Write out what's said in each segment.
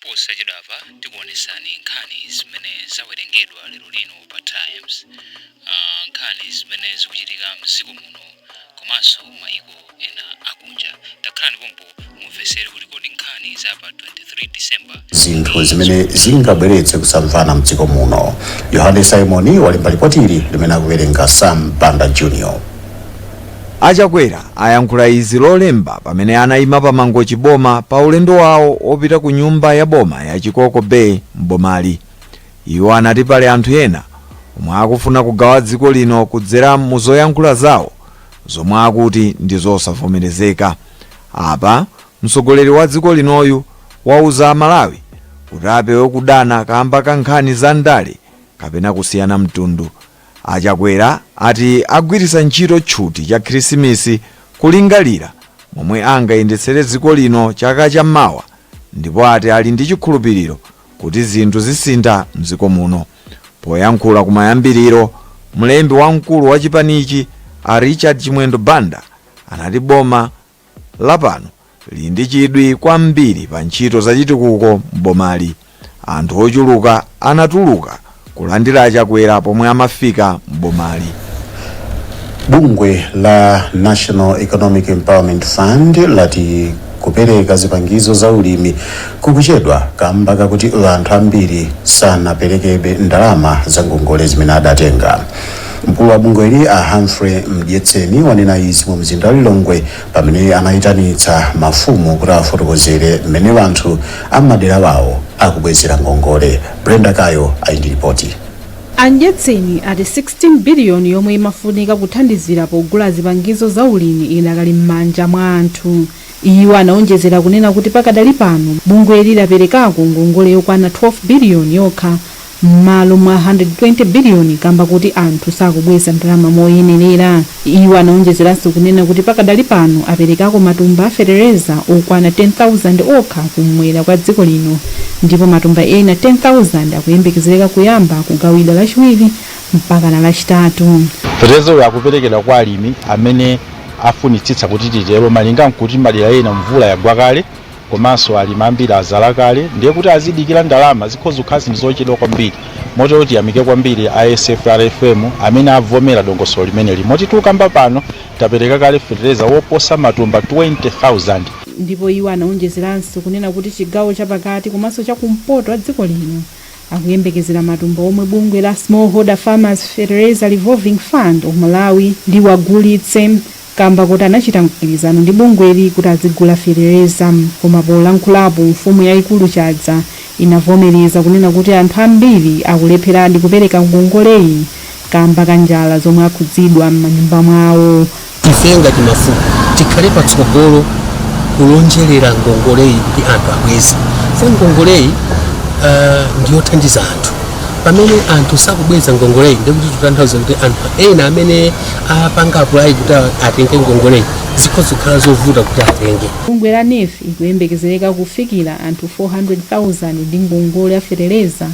Posachedwapa tikuonesani nkhani zimene zawerengedwa lero lino pa Times, aah nkhani zimene zikuchitika mdziko muno komanso maiko ena akunja. Takhalani pompo mumvesere kuti kodi nkhani za pa 23 December zinthu zimene zingabweretse kusamvana mdziko muno. Yohane Simon walemba lipoti ili limene akuwerenga Sam Banda Jr. A Chakwera ayankhula izi lolemba pamene anayima pa Mangochi Boma pa ulendo wawo opita ku nyumba ya boma ya Chikoko Bay m'bomali. Iwo anati pali anthu ena omwe akufuna kugawa dziko lino kudzera mu zoyankhula zawo zomwe akuti ndi zosavomerezeka. Apa mtsogoleri wa dziko linoyu wauza a Malawi kuti apewe kudana kamba ka nkhani za ndale kapena kusiyana mtundu. A Chakwera ati agwiritsa ntchito tchuti cha khirisimisi kulingalira momwe angayendetsere dziko lino chaka cha mmawa ndipo ati ali ndi chikhulupiriro kuti zinthu zisintha mdziko muno. Poyankhula kumayambiriro, mlembi wamkulu wa chipanichi a Richard Chimwendo Banda anati boma lapano lili ndi chidwi kwambiri pa ntchito za chitukuko m'bomali. Anthu ochuluka anatuluka kulandira a Chakwera pomwe amafika m'bomali. bungwe la national economic empowerment fund lati kupereka zipangizo za ulimi kukuchedwa kamba kakuti anthu ambiri sanaperekebe ndalama za ngongole zimene adatenga Mkulu wa bungweli a Humphrey Mdyetseni wanena izi mu mzinda wa Lilongwe pamene anayitanitsa mafumu kuti afotokozere mmene anthu a m'madera wawo akubwezera ngongole. Brenda Kayo ali ndi lipoti. A Mdyetseni ati 16 biliyoni yomwe imafunika kuthandizira pogula zipangizo za ulimi idakali m'manja mwa anthu. Iwo anawonjezera kunena kuti pakadali pano bungweli laperekako ngongole yokwana 12 biliyoni yokha mmalo mwa 120 biliyoni kamba kuti anthu sakubweza ndalama moyenerera. Iwo anaonjezeranso kunena kuti pakadali pano aperekako matumba a fetereza okwana 10,000 okha kumwera kwa dziko lino ndipo matumba ena 10,000 akuyembekezereka kuyamba kugawidwa lachiwiri mpakana lachitatu. Fetereza uyu akuperekedwa kwa alimi amene afunitsitsa kuti titero malinga nkuti madera ena mvula yagwa kale Komanso alimi ambiri azala kale ndiye kuti azidikira ndalama zikhoza kukhala zinthu zochedwa kwambiri motero tiyamike kwambiri a SFRFM amene avomera dongosolo limeneli moti tukamba pano tapereka kale fetereza woposa matumba 20,000. Ndipo iwo anaonjezeranso kunena kuti chigawo chapakati komanso chakumpoto a dziko lino akuyembekezera matumba omwe bungwe la Smallholder Farmers Fertilizer Revolving Fund of Malawi liwagulitse kamba kuti anachita mgwirizano ndi bungweli kuti adzigula fetereza koma polankhulapo mfumu yaikulu Chadza inavomereza kunena kuti anthu ambiri akulepheradi kupereka ngongoleyi kamba ka njala zomwe akhudzidwa m'manyumba mwawo. Ife ngati mafumu tikhale patsogolo kulonjerera ngongoleyi ndi anthu abweze chifukwa ngongoleyi uh, ndiyothandiza anthu pamene anthu sakubweza ngongoleyi ndekuti tikutanthauza kuti anthu ena amene apanga apulayi kuti atenge ngongoleyi zikhoza kukhala zovuta kuti atenge bungwe la nef likuyembekezereka kufikira anthu 400,000 ndi ngongole ya fetereza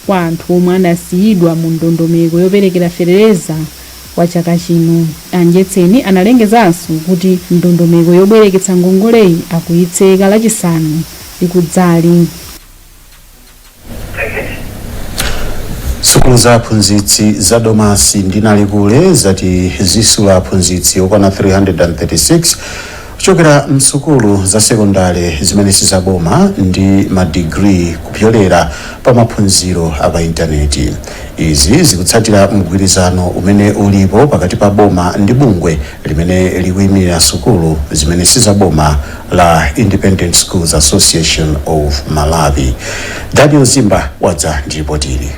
kwa anthu omwe anasiyidwa mu ndondomeko yoperekera fetereza kwa chaka chino a mdyetseni analengezanso kuti ndondomeko yobwereketsa ngongoleyi akuyitseka lachisanu likudzali sukulu za aphunzitsi za domasi ndi nalikule zati zisula aphunzitsi okwana 336 kuchokera msukulu za sekondale zimene sizaboma ndi madigiri kupyolera pa maphunziro a pa intaneti izi zikutsatira mgwirizano umene ulipo pakati pa boma ndi bungwe limene likuimirira sukulu zimene sizaboma la Independent Schools Association of Malawi. Daniel Zimba wadza ndi ripoti ili.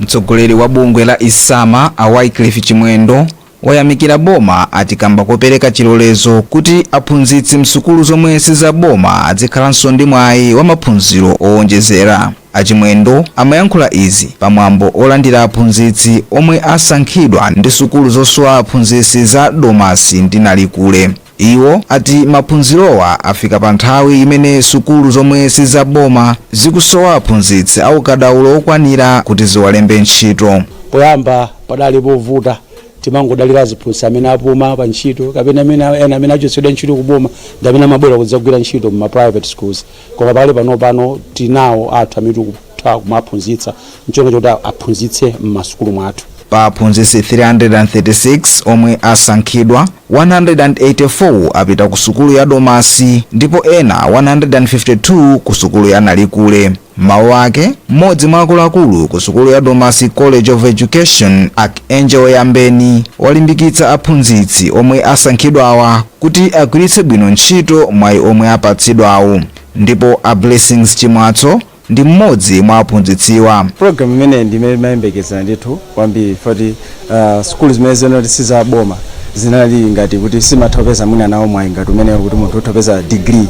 mtsogoleri wa bungwe la isama a wycliffe chimwendo wayamikira boma ati kamba kopereka chilolezo kuti aphunzitsi msukulu zomwe sizaboma adzikhalanso ndi mwayi wa maphunziro owonjezera A Chimwendo amayankhula izi pa mwambo olandira aphunzitsi omwe asankhidwa ndi sukulu zosula aphunzitsi za Domasi ndi Nalikule. Iwo ati maphunzirowa afika pa nthawi imene sukulu zomwe si za boma zikusowa aphunzitsi a ukadaulo okwanira kuti ziwalembe ntchito. Poyamba padali povuta, timangodalira aziphunzitsi amene apuma pa ntchito kapena ena amene achotsedwa ntchito ku boma ndi amene amabwera kudzagwira ntchito mma private schools. koma pakali pano tinawo athu amene tikutha kuwaphunzitsa ncholinga choti aphunzitse m'masukulu mwathu pa aphunzitsi 336 omwe asankhidwa 184 apita ku sukulu ya domasi ndipo ena 152 ku sukulu ya nalikule mmawu ake mmodzi mwa akuluakulu ku sukulu ya domasi college of education archangel yambeni walimbikitsa aphunzitsi omwe asankhidwawa kuti agwiritse bwino ntchito mwayi omwe apatsidwawu ndipo a Blessings Chimwatso ndi mmodzi mwa aphunzitsiwa. Program imeneyi ndi imene timayembekezera ndithu kwambiri chifukwa kuti uh, sukulu zimene zinali kuti si za boma zinali ngati kuti sizimatha kupeza mwina nawo mwayi ngati umenewo kuti munthu utha kupeza degree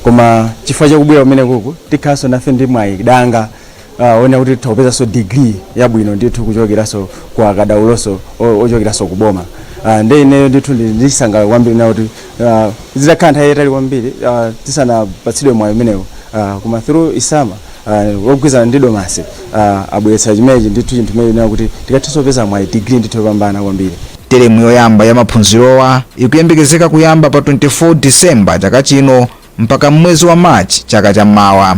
koma chifukwa chakubwera kumenekuku tikhalanso nafe ndi mwayi danga uh, onena kuti tikhoza kupeza degree yabwino ndithu kuchokeranso kwa akadaulonso o- ochokeranso ku boma uh, nde ineyo ndithu ndi- ndisangalala kwambiri onena kuti uh, zitakhala nthawi yayitali kwambiri uh, tisanapatsidwe mwayi umenewo uh, koma through isama uh, mogwirizana ndi domasi uh, abweretsa chimenechi ndithu chinthu chimene onena kuti tikathenso kupeza mwayi degree ndithu yopambana kwambiri teremu yoyamba ya maphunzirowa ikuyembekezeka kuyamba pa 24 disemba chaka chino mpaka m'mwezi wa March chaka cha mawa.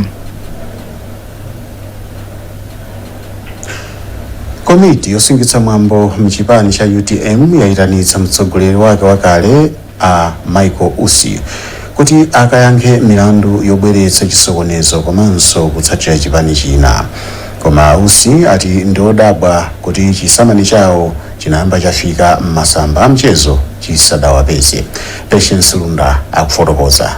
komiti yosungitsa mwambo mchipani cha utm yayitanitsa mtsogoleri wake wakale a michael usi kuti akayankhe milandu yobweretsa chisokonezo komanso kutsatira chipani china koma a usi ati ndiodabwa kuti chisamani chawo chinayamba chafika m'masamba a mchezo chisadawapeze Patience Lunda akufotokoza.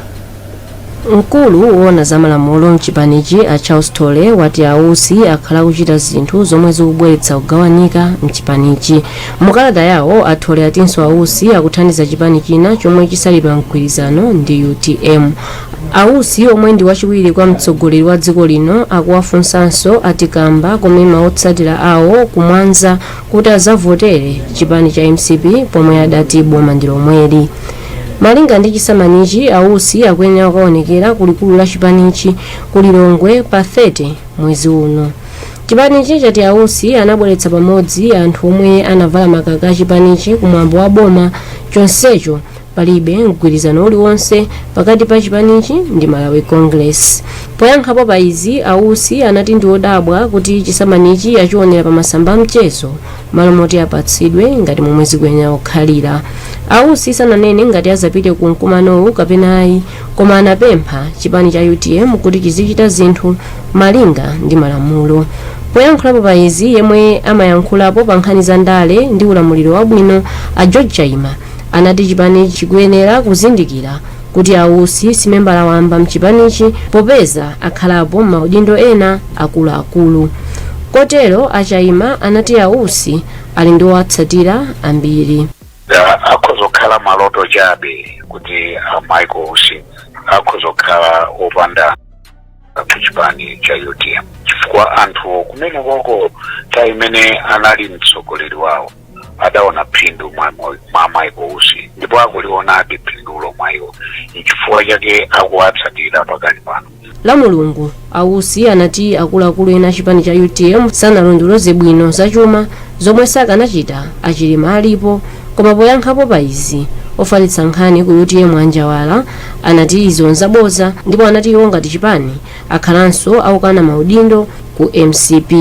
mkulu woona za malamulo mchipanichi a charles thole wati ausi akhala akuchita zinthu zomwe zikubweretsa kugawanika mchipanichi mukalata yawo athole atinso ausi akuthandiza chipani china chomwe chisali pa mgwirizano ndi utm ausi omwe ndi wachiwiri kwa mtsogoleri wa dziko lino akuwafunsanso pa nkhani yomema otsatira awo kumwanza kuti azavotere chipani cha mcp pomwe adati boma ndi lomweli malinga ndi chisamanichi ausi akuyenera kukaonekera ku likulu la chipanichi ku lilongwe pa 30 mwezi uno chipanichi chati ausi anabweretsa pamodzi anthu omwe anavala makaka a chipanichi kumwambo wa boma chonsecho palibe mgwirizano uliwonse pakati pa chipanichi ndi malawi congress poyankhapo pa izi ausi anati ndi odabwa kuti chisamanichi achionera pa masamba amchezo malo moti apatsidwe ngati momwe zikuyenera kukhalira ausi sananene ngati azapite ku mkumanowu kapena ayi koma anapempha chipani cha utm kuti chizichita zinthu malinga ndi malamulo poyankhulapo pa izi yemwe amayankhulapo pa nkhani za ndale ndi ulamuliro wabwino a george chaima anati chipanichi chikuyenera kuzindikira kuti a Usi si membala wamba mchipanichi popeza akhalapo m'maudindo ena akuluakulu. Kotero a Chaima anati a Usi ali ndi owatsatira ambiri. Ah, akhoza kukhala maloto chabe kuti a Michael Usi akhoza kukhala opanda anthu kuchipani cha utm chifukwa anthu kumene koko nthawi imene anali mtsogoleri wawo adaona phindu mwa michael usi ndipo akulionabe phindulo mwa iwo nchifukwa chake akuwatsatira pakali pano la mulungu ausi anati akuluakulu ena a chipani cha utm sanalondoloze bwino zachuma zomwe sakanachita achilima alipo koma poyankhapo pa izi ofalitsa nkhani ku utm a njawala anati izo nzaboza ndipo anati iwo ngati chipani akhalanso akukana maudindo ku mcp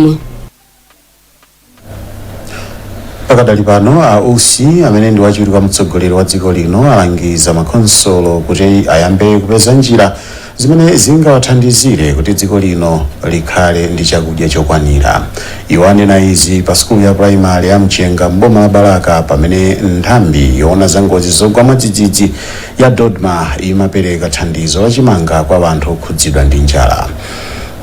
pakadali pano a usi amene ndi wachiwiri kwa mtsogoleri wa dziko lino alangiza makonsolo kuti ayambe kupeza njira zimene zingawathandizire kuti dziko lino likhale ndi chakudya chokwanira iwo anena izi pa sukulu ya purayimali ya mchenga mboma la balaka pamene nthambi yoona za ngozi zogwa mwadzidzidzi ya Dodma imapereka thandizo la chimanga kwa anthu okhudzidwa ndi njala.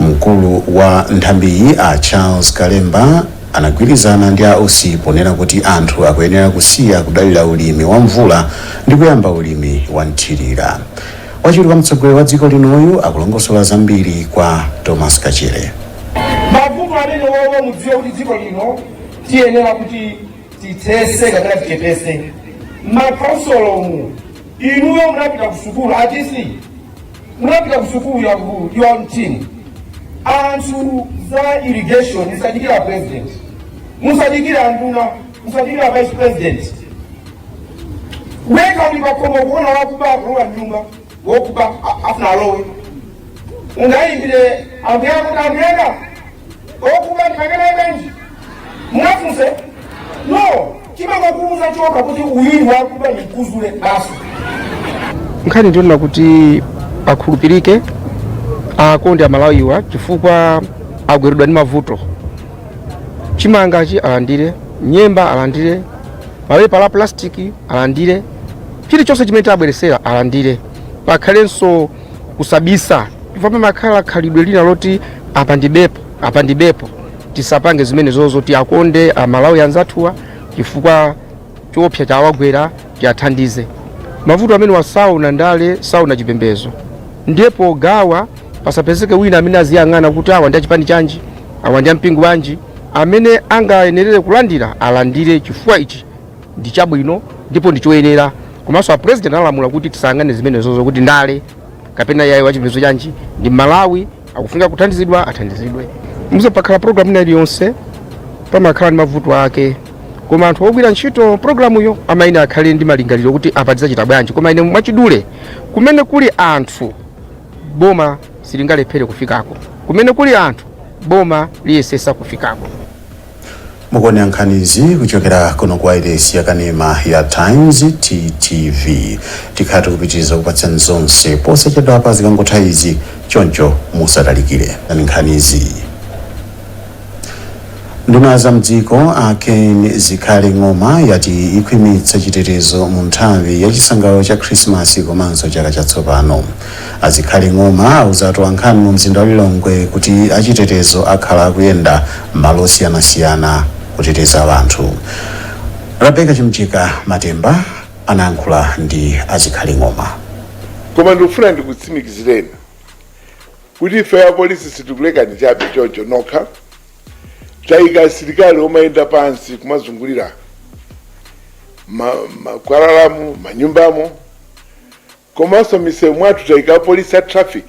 Mkulu wa nthambiyi a Charles Kalemba anagwirizana ndi a Usi ponena kuti anthu akuyenera kusiya kudalira ulimi wa mvula ndi kuyamba ulimi wa mthirira. Wachiwiri kwa mtsogoleri wa dziko linoyu akulongosola zambiri kwa Thomas Kachere. mavuto amenewawa mudziwe kuti dziko lino tiyenera kuti tithese kapena tichepese m'makhonsolomu inuyo munapita kusukulu atc munapita kusukulu ya ku- ya mtini anthu za irrigation musadikire president musadikire nduna musadikire vice president iwe ukakhala uli pakhomo kuona wakuba akulowa mnyumba wakuba afuna alowe ungayimbire ambuyanga ambuyanga wakuba ndikakaneneji mwafunse no umangomuuza choka kuti uyu ndi wakuba ndikuuze basi nkhani ndionena kuti akhulupirike akonde amalawiwa chifukwa agweredwa ndi mavuto chimangachi alandire nyemba alandire mapepala a plastic alandire chilichonse chimene tawabweretsera alandire pakhalenso kusabisa chifukwa pamakhala khalidwe lina loti apa ndibepo apa ndibepo tisapange zimenezozo tiakonde amalawi anzathuwa chifukwa choopsa chawagwera tiathandize mavuto amenewa saona ndale saona chipembedzo ndiye pogawa pasapezeke wina amene aziyang'ana kuti awa ndi achipani chanji awa ndi ampingo wanji amene angayenerere kulandira alandire chifukwa ichi ndi chabwino ndipo ndi choyenera komanso a president analamula kuti tisayang'ane zimenezozo kuti ndale kapena yayi wachipembedzo chanji ndi Mmalawi akufunika kuthandizidwa athandizidwe mudziwa pakakhala programu ina iliyonse pamakhala ndi mavuto ake koma anthu ogwira ntchito programuyo amayenera akhale ndi malingaliro kuti apa tidzachita bwanji koma ine mwachidule kumene kuli anthu boma silingalephere kufikako kumene kuli anthu boma liyesesa kufikako Mukuonera nkhanizi kuchokera kuno ku wailesi ya kanema ya Times TTV. Tikhala tikupitiriza kupatsani zonse posachedwapa zikangotha izi, choncho musatalikire ani nkhanizi. Nduna ya za mdziko a Ken Zikhale Ng'oma yati ikhwimitsa chitetezo mu nthawi ya chisangalalo cha Khrisimasi komanso chaka chatsopano. A Zikhale Ng'oma auza atolankhani mu mzinda wa Lilongwe kuti achitetezo akhala akuyenda m'malo osiyanasiyana kuteteza anthu. Rebecca Chimjeka Matemba anayankhula ndi a Zikhale Ng'oma. koma ndikufuna ndikutsimikizireni kuti ife apolisi sitikulekani chabe chocho nokha tayika asilikali omayenda pansi kumazungulira ma- makwalalamu manyumbamo Komanso m'misewu mwathu taika apolisi a traffic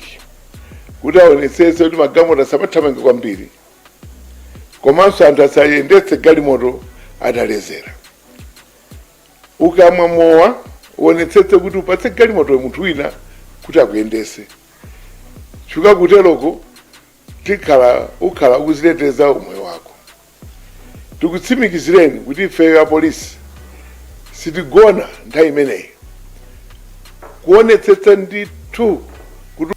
kuti aonetsetse kuti magalimoto asamathamange kwambiri komanso anthu asayendetse galimoto ataledzera. Ukamwa mowa uonetsetse kuti upatse galimoto munthu wina kuti akuyendetse chifukwa kuteroko tikhala ukhala ukuziteteza umoyo wako. Tikutsimikizireni kuti ifeyo apolisi sitigona nthawi imeneyi kuonetsetsa ndithu kuti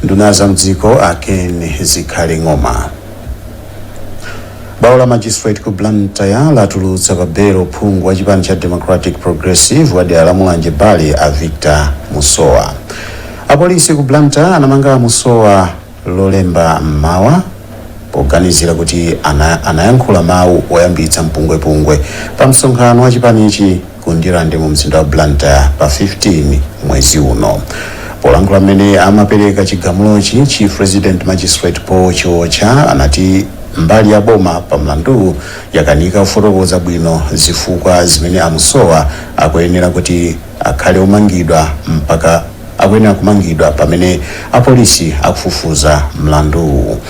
nduna za mdziko a ken zikhale ng'oma bwalo la magistrate ku blantyre latulutsa pa belo phungu wa chipani cha democratic progressive wa dera la mulanje bale a victor musowa Apolisi ku Blantyre anamanga a Musowa lolemba m'mawa poganizira kuti anayankhula mawu oyambitsa mpungwepungwe pa msonkhano wa chipanichi ku Ndirande mu mzinda wa Blantyre pa 15 mwezi uno. Polankhula mmene amapereka chigamulochi, Chief Resident Magistrate Paul Chiotcha anati mbali ya boma pa mlanduwu yakanika kufotokoza bwino zifukwa zimene a Musowa akuyenera kuti akhale omangidwa mpaka akuyenera kumangidwa pamene apolisi akufufuza mlanduwu.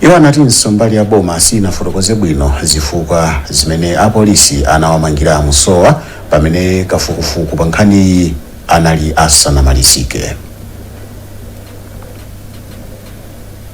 Iwo anatinso mbali ya boma sinafotokoze bwino zifukwa zimene apolisi anawamangira a Musowa pamene kafukufuku pa nkhaniyi anali asanamalizike.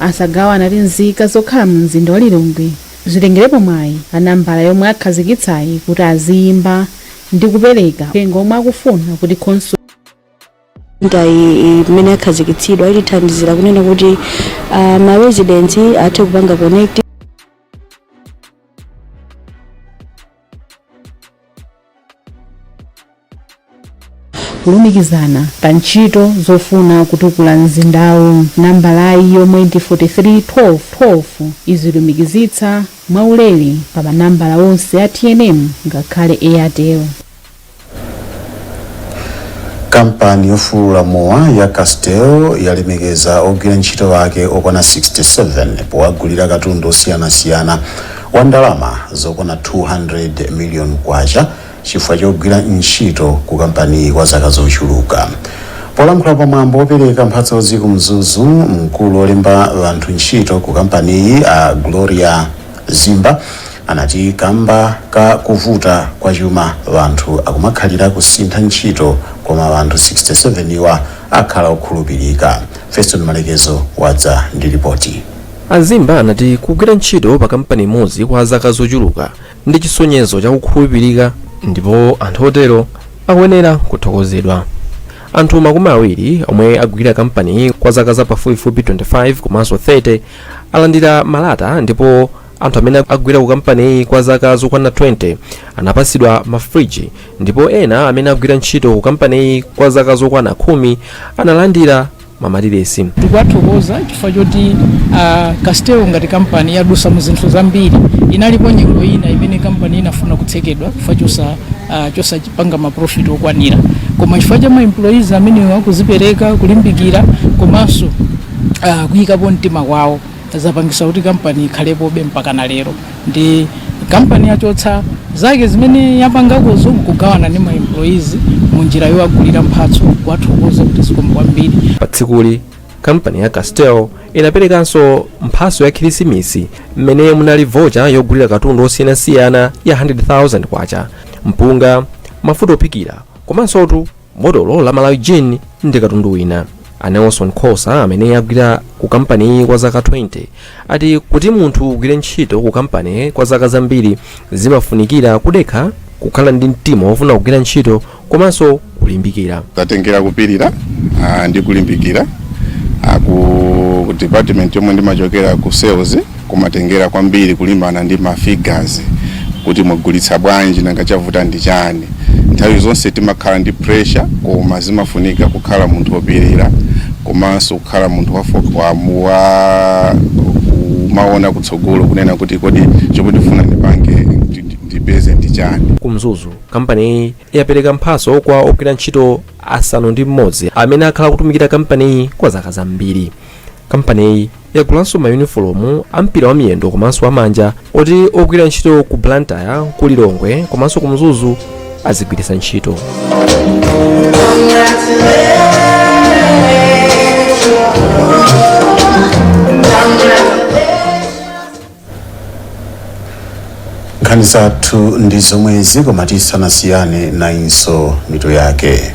Asagawa anati nzika zokhala mu mzinda wa Lilongwe zitengerepo mwayi pa nambala yomwe akhazikitsayi kuti aziyimba ndi kupereka uthenga omwe akufuna kuti khonsolo. Lineyi imene yakhazikitsidwa itithandizira kunena kuti ma residents athe kupanga connect. kulumikizana pa ntchito zofuna kutukula mzindawu nambalayi yomwe ndi 431212 izilumikizitsa mwaulere pa manambala onse a tnm ngakhale airtel kampani yofulula mowa ya castel yalemekeza ogwira ntchito wake okwana 67 powagulira katundu osiyanasiyana wa ndalama zokwana 200 miliyoni kwacha chifukwa chogwira ntchito ku kampaniyi kwa zaka zochuluka polankhula pa mwambo wopereka mphatsozi ku mzuzu mkulu olemba anthu ntchito ku kampaniyi a gloria zimba anati kamba ka kuvuta kwa chuma anthu akumakhalira kusintha ntchito koma anthu 67 iwa akhala okhulupilika. Feston Malekezo wadza ndi lipoti. A Zimba anati kugwira ntchito pa kampani imodzi kwa zaka zochuluka ndi chisonyezo cha kukhulupilika ndipo anthu otero akuyenera kuthokozedwa. Anthu makumi awiri omwe agwira kampaniyi kwa zaka za pafupifupi 25 komanso 30 alandira malata ndipo anthu amene agwira ku kampaniyi kwa zaka zokwana 20 anapatsidwa mafriji ndipo ena amene agwira ntchito ku kampaniyi kwa zaka zokwana khumi analandira mamatiresi tikuwathokoza chifukwa choti uh, castel ngati kampani yadusa mu zinthu zambiri inalipo nyengo ina imene kampani inafuna kutsekedwa chifukwa chosa uh, chosapanga maprofit okwanira koma chifukwa cha maemployees amenewa kuzipereka kulimbikira komanso uh, kuyikapo mtima kwawo zapangisa kuti kampani ikhalepobe mpaka na lero nde kampani yachotsa zake zimene yapangakozo nkugawana ndi maemployees munjira yowagulira mphatso kuwathokoza kuti zikomo kwambiri pa tsikuli kampani ya castel inaperekanso mphatso ya khirisimisi mmene munali vocha yogulira katundu osiyanasiyana ya 100,000 kwacha mpunga mafuta ophikira komansotu botolo la malawi gin ndi katundu wina a nelson khosa amene agwira ku kampaniyi kwa zaka 20 ati kuti munthu ugwire ntchito ku kampani kwa zaka zambiri zimafunikira kudekha kukhala ndi mtima wofuna kugwira ntchito komanso kulimbikira tatengera kupirira ah, ndi kulimbikira ah, ku department yomwe ndimachokera ku sales kumatengera kwambiri kulimbana ndi ma figures kuti mugulitsa bwanji nanga chavuta ndi chani nthawi zonse timakhala ndi pressure koma zimafunika kukhala munthu wopirira komanso kukhala munthu wafo- wa- womaona kutsogolo kunena kuti kodi chomwe ndifuna ndipange ndi- ndi- ndipeze ndi chani ku mzuzu kampaniyi yapereka mphaso kwa ogwira ntchito asanu ndi mmodzi amene akhala akutumikira kampaniyi kwa zaka zambiri kampaniyi yagulanso mayunifolomu a mpira wa miyendo komanso wamanja oti ogwira ntchito ku blantyre ku lilongwe komanso ku mzuzu azigwiritsa ntchito nkhani zathu ndi zomwezi koma tisanasiyane nayinso mitu yake